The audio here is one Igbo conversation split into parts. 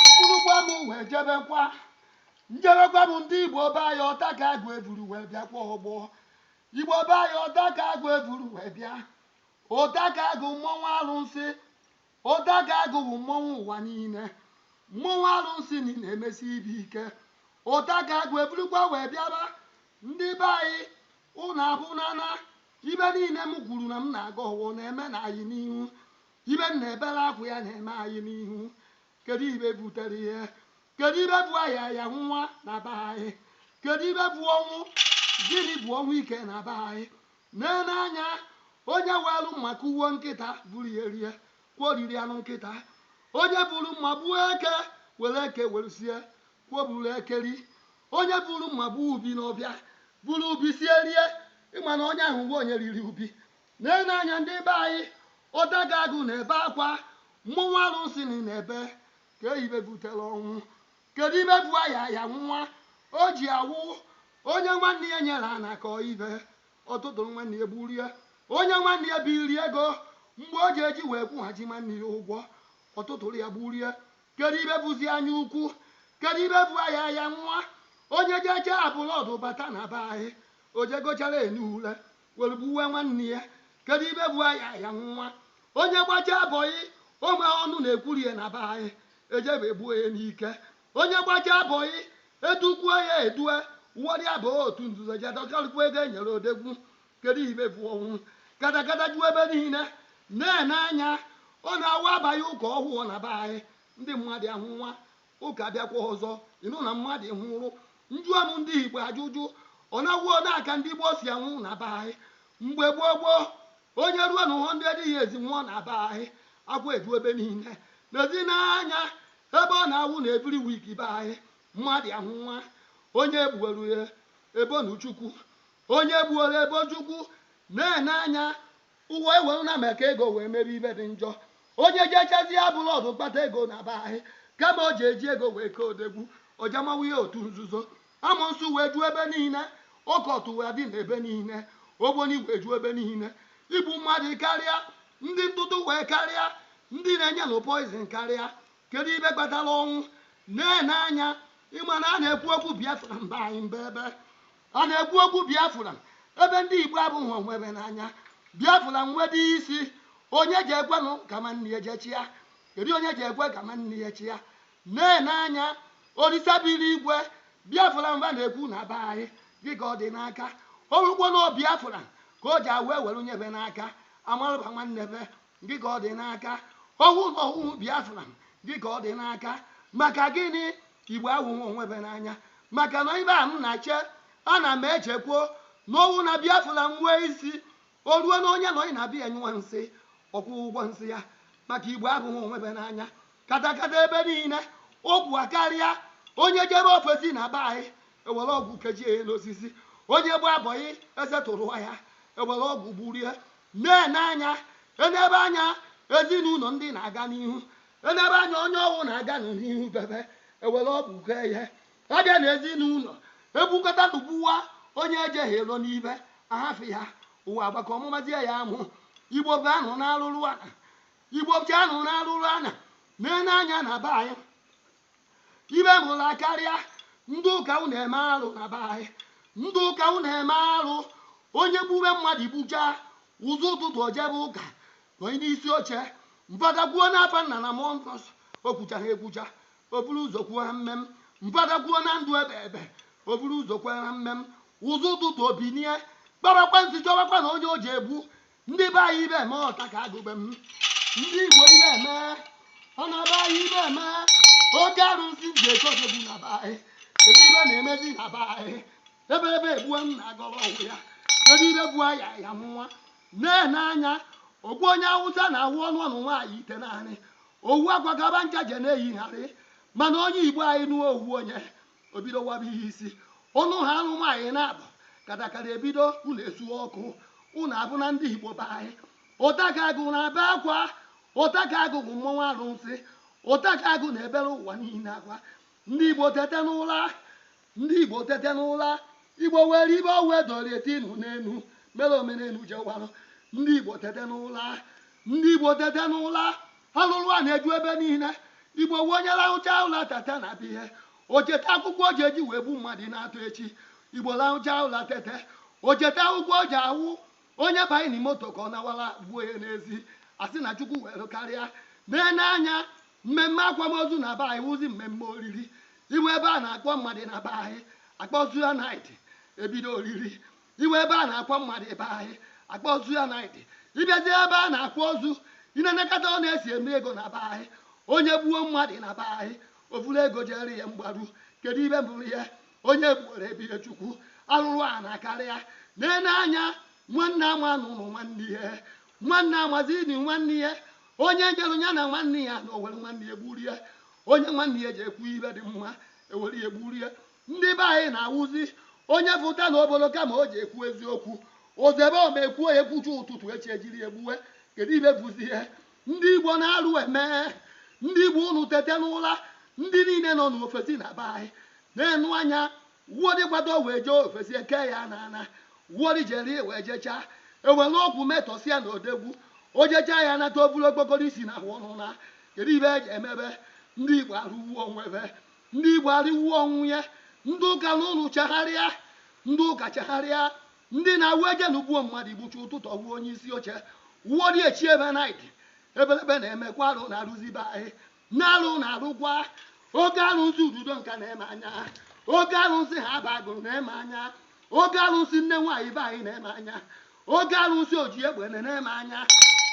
mkpụrụkwa m wee jebekwa njebekwa bụ ndị igbo be anyị ọtakagụ evuru wee bịa kwa ọgbọ igbo be anyị ọtakagụ evuru wee bịa ọtakagụ mmọnwụ arụnsị Ọtakagụ wụ mmọnwụ ụwa niile. Mmọnwụ arụnsị nị na emesi ibe ike. Ọtakagụ eburukwa wee bịaba. Ndị be ayị, ụnụ ahụna na ibe niile m kwuru na m na aga ọwọ na eme na ayị n'ihu. Ibe m na ebere akwa ya na eme ayị n'ihu. Kedu ibe butere ihe? Kedu ibe bu ayị aya nwụwa na be ayị? Kedu ibe bu ọnwụ? Gịnị bu ọnwụ ike na be ayị? Nene anya, onye weere mma kụgbuo nkịta, buru ya rie, kwa o riri anụ nkịta. Onye buuru mma gbuo eke, were eke were sie, kwa o buuru eke ri. Onye buuru mma gbuo ubi n'ọbịa, buru ubi sie rie, ị ma na onye ahụ wụ onye riri ubi. Nene anya ndị be anyị, Ọtakagụ na-ebe akwa, mmọnwụ arụsị nị na-ebe, kee ibe butere ọnwụ. Kedu ibe bụ aya ya nwụwa o ji awụ onye nwanne ya nyere ana ka ibe ọ tụtụrụ nwanne ya gburie onye nwanne ya biri ego mgbe o ji eji wee kwụghachi nwanne ya ụgwọ ọ tụtụrụ ya gburie kedu ibe bụzi anya ukwu kedu ibe bụ aya ya nwụwa onye jecha abroad bata na be anyị o jegochara enu ule were gbuwe nwanne ya kedu ibe bụ aya ya nwụwa onye gbacha boy o nwee ọnụ na-ekwuru ya na be anyị ejebe egbuo ya n'ike onye gbacha boy edukwuo ya edu o were baa otu nzuzo ji adọkarịkwu ego e nyere odegwu kedu ibe bụ ọnwụ katakata ju ebe niile nene anya ọ na-awụ a baa ụka ọhụụ na be anyị ndị mmadụ anwụwa Ụka abịakwa ọzọ ị nụ na mmadụ nwụrụ. Njụọ m ndị Igbo ajụjụ, ọ na-awụ ole ka ndị gboo si anwụ na be anyị? Mgbe gboo gboo, onye ruo na 100 years nwụọ na be anyị, akwa eju ebe niile. Nezinụ anya ebe ọ na-awụ na every week be anyị, mmadụ anwụwa, onye egbuoro ya ebonu Chukwu, onye egbuoro ebo Chukwu, nene anya Ụwa ewelu na maka ego wee mebe ibe dị njọ. Onye jechazie abroad kpata ego na be anyị, kama o ji eji ego wee kee odegwu, o je mawa ihe otu nzuzo. Amonsu wee ju ebe niile, occult wee dị n'ebe niile, ogboni wee ju ebe niile. Igbu mmadụ karịa, ndị ntụtụ wee karịa, ndị na-enyenụ poison karịa. Kedu ibe kpatara ọnwụ? Nene anya, ị ma na a na-ekwu okwu Biafra be anyị mba ebe. Ọ na-ekwu okwu Biafra ebe ndị Igbo abụghị onwe be n'anya. Biafra nwedị isi, onye ji ekwenụ ka nwanne ya je chịa? Kedu onye ji ekwe ka nwanne ya chịa? Na-ene anya, Olisa bi n'igwe, Biafra m be na-ekwu na be anyị gị ka ọ dị n'aka. Ọ wụkwọ n'ọ Biafra ka o ji awe were nye be n'aka, amarụba nwanne be gị ka ọ dị n'aka ọ wụ na ọ wụ biafra gị ka ọ dị n'aka maka gịnị igbo awụghị onwe be n'anya maka na ibe a m na-eche ana m echekwo na ọ wụ na biafra m nwee isi o ruo na onye nọ na be ya nyụwa nsị ọ kwụọ ụgwọ nsị ya maka igbo abụghị onwe be n'anya katakata ebe niile ọgwụ akarịa onye jebe ofesi na be anyị ewere ọgwụ kechie ya n'osisi onye gbaa bọị e setụrụ ya ewere ọgwụ gburie Na-ene anya, enebe anya ezinụlọ ndị na-aga n'ihu, enebe anya onye ọ wụ na-aganụ n'ihu be be, ewere ọgwụ kee ya. A bịa na ezinụlọ, ebukọta nụ gbuwa onye e jighị elo n'ibe, ahafụ ya, ụwa agbakọọ mụmazie ya amụ. Igbo bụ anụ na arụrụ ana. Igbo bụ anụ na arụrụ ana. Na-ene anya na be anyị, ibe mụla akarịa ndị ụka unu eme arụ na be anyị ndị ụka unu eme arụ onye gbube mmadụ gbucha ụzọ ụtụtụ o jebe ụka onye n'isi oche fada kwuo n'afa nna na mmụọ nsọ o kwuchaghị ekwucha o buru ụzọ kwuo amen fada kwuo na ndụ ebe ebe o buru ụzọ kwuo amen ụzọ ụtụtụ o binie kpabakwa nsi chọbakwa na onye o ji egbu ndị be anyị ibe eme ọtakagụ be m ndị igbo ibe emee na be anyị ibe eme oke arụsị ji ekodogbu na be anyị kedu ibe na-emezi na be anyị ebe ebe egbue m na-agọrọ ọgwụ ya kedu ibe bụ aha ya nwa na-ene anya ọ bụ onye awụsa na-awụ ọ nụọnụ nwaanyị itenaanị owu akwa ka ba ncha je na-eyigharị mana onye igbo anyị nụọ owu onye o bido waba ya isi ụnụ ha anụ nwaanyị na-abụ katakata ebido ụnụ esuo ọkụ ụnụ abụ na ndị igbo be anyị ọtakagụ na-ebe akwa ọtakagụ bụ mmọnwụ arụsị ọtakagụ na-ebere ụwa niile akwa ndị igbo tete n'ụra ndị igbo tete n'ụra igbo were ibe owe doro etinu n'enu mere omenelu jewarụ ndị igbo tete n'ụra ndị igbo tete n'ụra Arụrụ ana eju ebe niile. Igbo wụ onye lahụchaa ụla teta na be ya, o cheta akwụkwọ o ji eji wee gbu mmadụ n'ụtụtụ echi. Igbo lahụchaa ụla tete, o cheta akwụkwọ o ji awụ onye banye na moto ka ọ nawara gbuo ya n'ezi. A sị na Chukwu were karịa. Na-ene anya, mmemme akwamozu na be anyị wụzi mmemme oriri. Ị baa ebe a na-akpọ mmadụ na be anyị, akpọzuo naịtị, ebido oriri. iwe ebe a na-akwa mmadụ be anyị akpa ozu ya naịt ị bịazi ebe a na-akwa ozu ị na-enekọta ọ na-esi eme ego na be anyị onye gbuo mmadụ na be anyị o vuru ego jere ya mgbaru kedu ibe mbụrụ ya onye gbuoro ebire chukwu arụrụana akarịa na-ene anya nwanne ama n'ụlọ nwanne ya nwanne amazi ni nwanne ya onye jere ya na nwanne ya na o were nwanne ya gburu ya onye nwanne ya ji ekwu ibe dị mma e were ya gburu ya Ndị be anyị na-awụzi onye fụta na obodo kama o ji ekwu eziokwu ozebe ọma ekwuo ya ekwucha ụtụtụ echi e jiri ya gbuwe kedu ibe bụzi ihe ndị igbo na arụ eme ndị igbo unu tete n'ụra ndị niile nọ n'ofesi na be anyị na-ene anya wụọdị kwado wee jee ofesi e kee ya na ana wụọdị jere wee jechaa e were ọgwụ metọsịa na odegwu o jechaa ya nata o buru okpokoro isi na ahụ ọnụ na kedu ibe e ji emebe ndị igbo arụgbuo onwe be Ndị Igbo arụwuo onwe ya. Ndị ụka unu chegharịa. Ndị ụka chegharịa. Ndị na-awụ ejelu gbuo mmadụ igbuchi ụtụtụ ọ wụ onye isi oche. Wụọdị echi ebe naịt. Ebelebe na-emekwa arụ na-arụzi be anyị. Na arụ na-arụkwa. Oke arụsị Ududonka nene m anya. Oke arụsị Haba Agụlụ nene m anya. Oke arụsị nne nwaanyị be anyị nene m anya. oke arụsị oji egbe nene m anya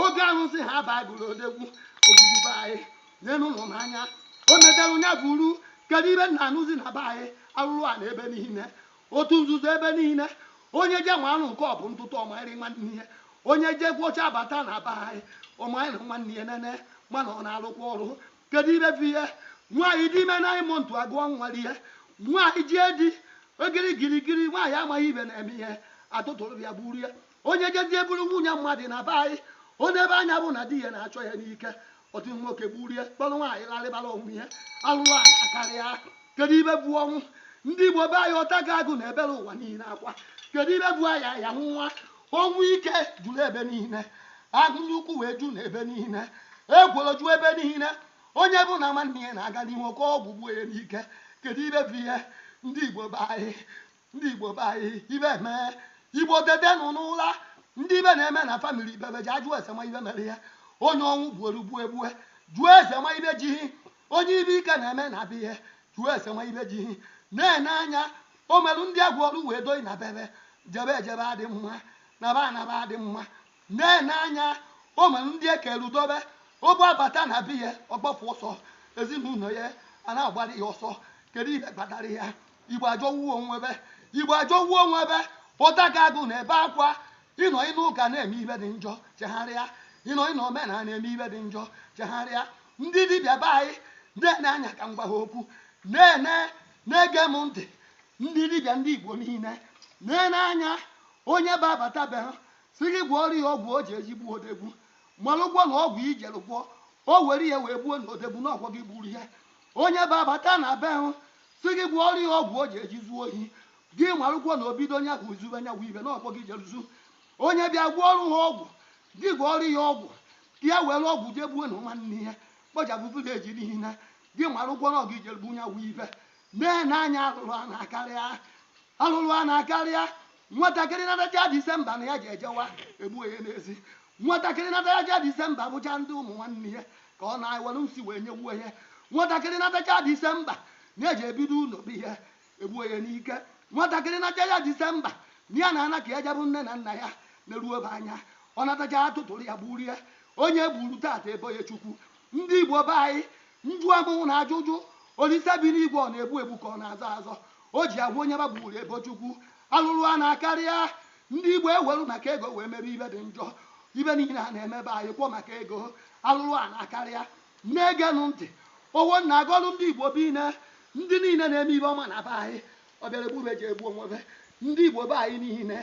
oke arụsị haba agụlụ odegwu ogwugwu be anyị nenu ụmụ m anya o metere nya buru kedu ibe m na-anụzi na be anyị arụrụana ebe niile otu nzuzo ebe niile onye je weru nke ọ bụ ntụtụ ọ maịrị nwanne ya onye je gwọcha bata na be anyị ọ maịrị nwanne ya nene mana ọ na-arụkwa ọrụ Kedu ibe bụ ihe? Nwaanyị dị ime nine month agụọ nwa rie. Nwaanyị jie di, ogiri girigiri, nwaanyị amaghị ibe na-eme ihe, a tụtụrụ ya gburu ya. Onye jezie buru nwunye mmadụ na be anyị, o nebe anya fụ na di ya na-achọ ya n'ike, otu nwoke gburu ya, kpọrọ nwaanyị larịbara onwe ya. Arụrụana akarịa. Kedu ibe bụ ọnwụ? Ndị Igbo be anyị, Ọtakagụ na-ebere ụwa niile akwa. Kedu ibe bụ aya aya nwa? Ọnwụ ike juru ebe niile, agụnye ukwu wee ju na ebe niile, egworo ju ebe niile. Onye fụ na nwanne ya na-aga n'ihu o kee ọgwụ gbuo ya n'ike. Kedu ibe bụ ihe? Ndị Igbo be anyị, ndị Igbo be anyị, ibe emee. Igbo tetenụ n'ụra. Ndị ibe na-eme na famili be be ji ajụ ese ma ibe mere ya. Onye ọnwụ gbuoro gbuo egbue. Jụọ ese ma ibe ji gị. Onye ibe ike na-eme na be ya. Jụọ ese ma ibe ji gị. Na-ene anya O meru ndị a gwọrọ wee doi na be be, jebe ejebe adị mma, naba anaba adị mma. Na-ene anya, o meru ndị e keru dobe, o bụ abata na be ya, ọ gbapụ ọsọ, ezinụlọ ya a na-agbara ya ọsọ. Kedu ihe kpatara ya? Igbo ajọwuo onwe be. Igbo ajọwuo onwe be, Ọtakagụ na-ebe akwa. Ị nọ n'ụka na-eme ibe dị njọ, chegharịa. Ị nọ n'omenala na-eme ibe dị njọ, chegharịa. Ndị dibịa be anyị, na-ene anya ka m gwa ha okwu. Na-ene na-ege m ntị ndị dibịa ndị igbo niile na-ene anya onye bịa bata be hụ sị gị gwọọrọ ya ọgwụ o ji eje egbu odogwu malụgwo na ọgwụ i jere gwọ o were ya wee gbuo na odogwu na ọ wụ gị gburu ya onye bịa bata na be hụ sị gị gwọọrọ ya ọgwụ o ji eje zuo ohi gị malụgwo na o bido onye ahụ zube nya bụ ibe na ọ wụ gị jere zuo onye bịa gwọọrụ ha ọgwụ gị gwọọrọ ya ọgwụ ya were ọgwụ jee gbuo na nwanne ya kpọchapụ village niile gị maragwo na ọ gị jere gbuo nya wụ ife na-ene anya alụlụ ana akarịa alụlụ ana akarịa nwatakịrị natacha disemba na ya ji ejewa egbuo ya n'ezi nwatakịrị natacha disemba bụcha ndị ụmụ nwanne ya ka ọ na-ewere nsi wee nyewuo ya nwatakịrị natacha disemba na-eje ebido ụlọ be ya egbuo ya n'ike nwatakịrị natacha disemba na ya na-ana ka ya je abụ nne na nna ya na-eruo be anya ọ natacha a tụtụrụ ya gburu ya onye e gburu taata e bo ya chukwu ndị igbo be anyị njụ amụwụ na ajụjụ olise bi n'igwe ọ na-egbu egbu ka ọ na-azọ azọ o ji agwa onye gbagburu e bo chukwu alụrụ ana akarịa ndị igbo ewelu maka ego wee mebe ibe dị njọ ibe niile a na-eme be anyị kwọ maka ego alụrụ ana akarịa Na-egenụ ntị. Ọwọ m na-agọrụ ndị Igbo be anyị niine, ndị niile na-eme ibe ọma na be anyị. Ọ bịara egbu be je egbu onwe be. Ndị Igbo be anyị niile,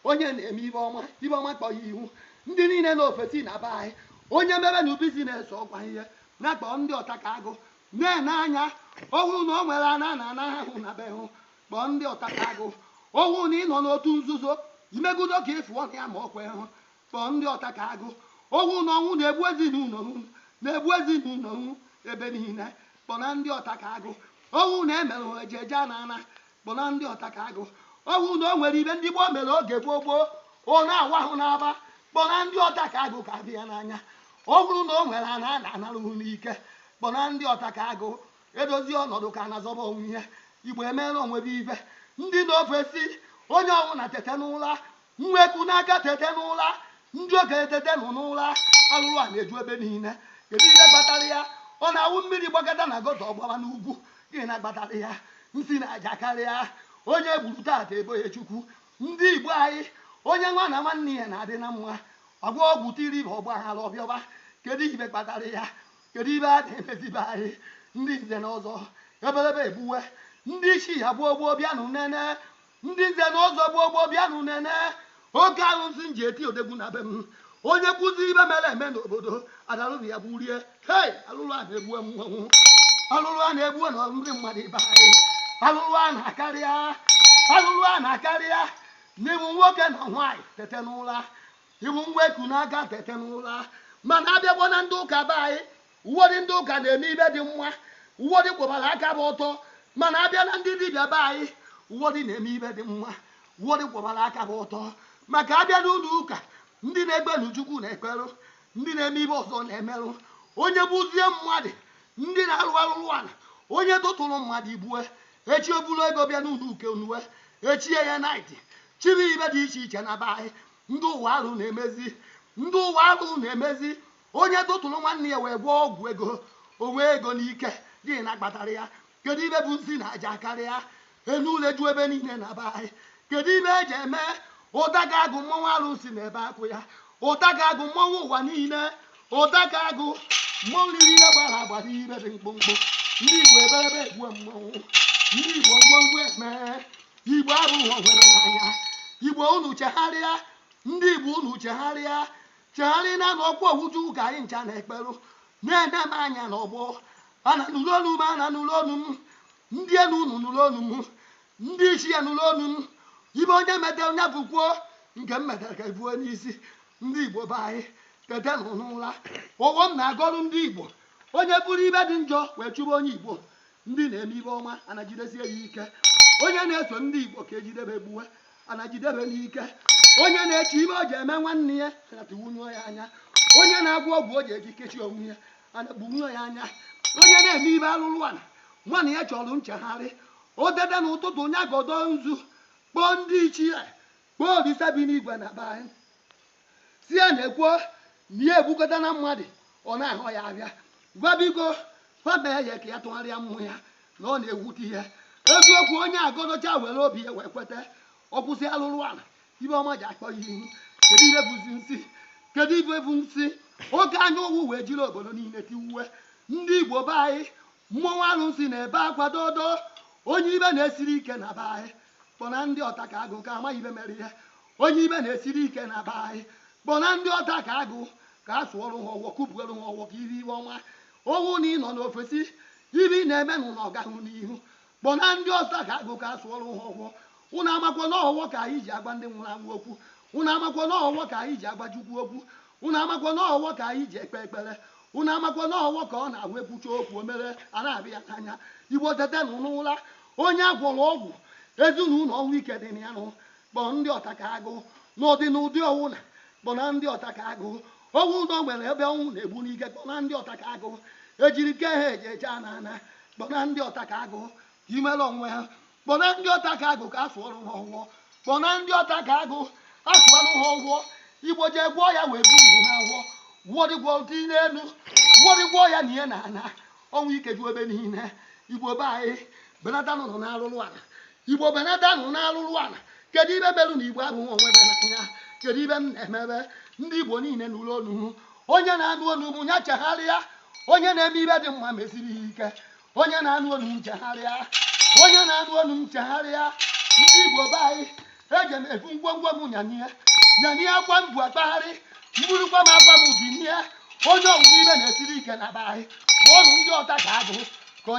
onye na-eme ibe ọma, ibe ọma kpoo ya ihu. Ndị niile nọ ofesi na be anyị, onye mebenụ business ọ gwa ihe. Ya kpọọ ndị ọtakaagụ. Na-ene anya, ọ bụrụ na o nwere ana a na-anaha hụ na be hụ, kpọọ ndị ọtakaagụ. Ọ bụrụ na ị nọ n'otu nzuzo, i megodo ka ị fụọ na ya ma o kwee hụ. Kpọọ ndị ọta ka agụ ọ wụ na ọnwụ na-egbu ezinụlọ hụ na-egbu ezinụlọ hụ ebe niile kpọna ndị ọta ka agụ ọ wụ na e merụ hụ eje eje ana ana kpọna ndị ọta ka agụ ọ wụ na o nwere ibe ndị gboo mere oge gboo gboo ọ na-awa hụ n'aba kpọna ndị ọta ka agụ ka adị ya n'anya ọ bụrụ na o nwere ana a na-anarụ hụ n'ike kpọna ndị ọta ka agụ e dozie ọnọdụ ka a na-azọba onwe ya igbo emeela onwe be ibe ndị nọ ofesi onye ọbụla tete n'ụla Nwa eku n'aka tete n'ụla, ndị okenye tetenụ n'ụla, alụlụ ana eju ebe niile. Kedu ihe kpatara ya? Ọ na-awụ mmiri gbakọta na gutter ọ gbawa n'ugwu. Gịnị na kpatara ya? Nsi na aja akarịa, onye e gburu taata e bo ya Chukwu. Ndị Igbo anyị, onye nwa na nwanne ya na-adị na mma, a gwọọ ọgwụ tiri be ọgbaghara ọ bịawa. Kedu ihe kpatara ya? Kedu ihe a na-emezi be anyị? Ndị nze na ọzọ, ebelebe egbuwe, ndị ichie gboo gboo bịanụ nene, Ndị nze na ọzọ gboo gboo bịanụ nene oke alụsị m ji eti odegwu na be m onye kwuzi ibe mere eme n'obodo adarụzi ya gburie hei alụlụ ana egbu mmanwụ alụlụ ana egbu na ndị mmadụ be anyị alụlụ ana akarịa alụlụ ana akarịa n'ị bụ nwoke na nwaanyị tete n'ụla ị bụ nwa eku n'aka tete n'ụla mana a bịakwa na ndị ụka be anyị Ụfọdụ ndị ụka na-eme ibe dị mma, ụfọdụ kwụbara aka fa ọtọ, mana a bịa na ndị dibịa be anyị, ụfọdụ na-eme ibe dị mma, ụfọdụ kwụbara aka fa ọtọ. Maka a bịa n'ụlọ ụka, ndị na-ekperu Chukwu na-ekperụ, ndị na-eme ibe ọzọ na-emerụ. Onye gbuzie mmadụ, ndị na-arụ arụrụ ala, onye tụtụrụ mmadụ igbue, echi o buru ego bịa n'ụlọ ụka nye, e chie ya naịtị, chiri ibe dị iche iche na be anyị. Ndị ụwa arụ na-emezi, ndị ụwa arụ na-emezi. Onye tụtụrụ nwanne ya wee gwọọ ọgwụ ego, o nwee ego n'ike, gịnị na-akpatara ya? Kedu ibe bụ nsi na aja karịa? Enu ule ju ebe niile na be anyị. Kedu ibe eji eme ụdaga agụ mmọnwụ arụsị na-ebe akwa? Ụdaga agụ mmọnwụ ụwa niile, ụdaga agụ mmọnwụ niile gbara agba n'ibe dị mkpụmkpụ. Ndị Igbo eberebe egbuo mmọnwụ, ndị Igbo ngwongwo eme, Igbo abụghị ọhụrụ n'anya. Igbo unu chegharịa, ndị Igbo unu chegharịa, chegharị na n'ọkwa ofu chukwu ka anyị ncha na-ekperụ na-ene m anya n'ọgbọ ana nụrụ olu m ana nụrụ olu m ndị elu unu nụrụ olu m ndị ichie nụrụ olu m ibe onye metere onye bukwuo nke m metere ka ebuo n'isi ndị igbo be anyị tete nụ n'ụra ọfọ m na-agọrụ ndị igbo onye buru ibe dị njọ wee chụba onye igbo ndị na-eme ibe ọma ana jidesie ya ike onye na-eso ndị igbo ka ejidebe gbuwe ana jidebe n'ike onye na-eche ibe o ji eme nwanne ya ana tiwunye ya anya onye na-agwọ ọgwụ o ji eji kechie onwe ya ana gbunye ya anya onye na-eme ibe alụlụ ala nwanne ya chọrọ nchegharị o tete n'ụtụtụ onye a gọdo nzu kpọọ ndị ichie kpọọ olisa bi n'igwe na be anyị sị ya nekwo na ya egbukọtana mmadụ ọ na-ahụ ya abịa gwa biko fa mee ya ka ya tụgharịa mmụọ ya na ọ na-ewute ya eziokwu onye a gọdocha were obi ya wee kweta ọ kwụsị alụrụ ala ibe ọma ji akpọ ya ihu kedu ibe bụzi nsị kedu ibe bụ nsị oke anya ụfụ wee jiri obodo niile tiwuwe ndị igbo be anyị mmọnwụ arụsị na-ebe akwa dodo onye ibe na-esiri ike na be anyị kpọna ndị ọta ka agụ ka amaghị ibe mere ihe onye ibe na-esiri ike na be anyị kpọna ndị ọta ka agụ ka a sụọrụ ha ọfọ kụpụrụ ha ọfọ ka i rie ibe ọma ọ bụ na ị nọ n'ofesi ibe ị na-eme na ụlọ ọ gahụ n'ihu kpọna ndị ọta ka agụ ka a sụọrụ ha ọfọ ụnụ amakwa na ọ ọfọ ka anyị ji agwa ndị nwụrụ anwụ okwu ụnụ amakwa na ọ ọfọ ka anyị ji agwa chukwu okwu ụnụ amakwa na ọ ọfọ ka anyị ji ekpe ekpere ụnụ amakwa na ọ ọfọ ka ọ na-ahụ ekwucha okwu o mere a na-abịa ya n'anya igbo tete nụ n'ụra onye agwọrọ ọgwụ ezinụlọ ọnwụ ike dị na ya nụ kpọọ ndị ọta ka agụ n'ụdị n'ụdị ọnwụ na kpọ na ndị ọta ka agụ ọnwụ ụdọ nwere ebe ọnwụ na-egbu n'ike kpọ na ndị ọta ka agụ ejiri ke ha eji eje ana ana kpọ na ndị ọta ka agụ imere onwe ha kpọ na ndị ọta ka agụ ka afọ ọrụ ha ọgwụọ kpọ na ndị ọta ka agụ afọ ọrụ ha ọgwụọ igbo jee gwọọ ya wee bu ugwu ha agwọ gwọrịgwọ dị n'elu gwọrịgwọ ya na ihe na ana ọnwụ ike ju ebe niile igbo be anyị benatanụ n'arụrụ ala igbo benatanụ n'arụrụ ala kedu ibe merụ na igbo abụghị onwe be n'anya kedu ibe m na-emebe ndị igbo niile nụrụ onu onye na-anụ onu m ya chegharịa onye na-eme ibe dị mma mesiri ya ike onye na-anụ onu m chegharịa onye na-anụ onu m chegharịa ndị igbo be anyị eji m ebu ngwongwo m nyanie nyanie akwa m bu akpagharị mburukwa m akwa m binie onye ọwụwa ibe na-esiri ike na be anyị kpọọnụ ndị ọta ka agụ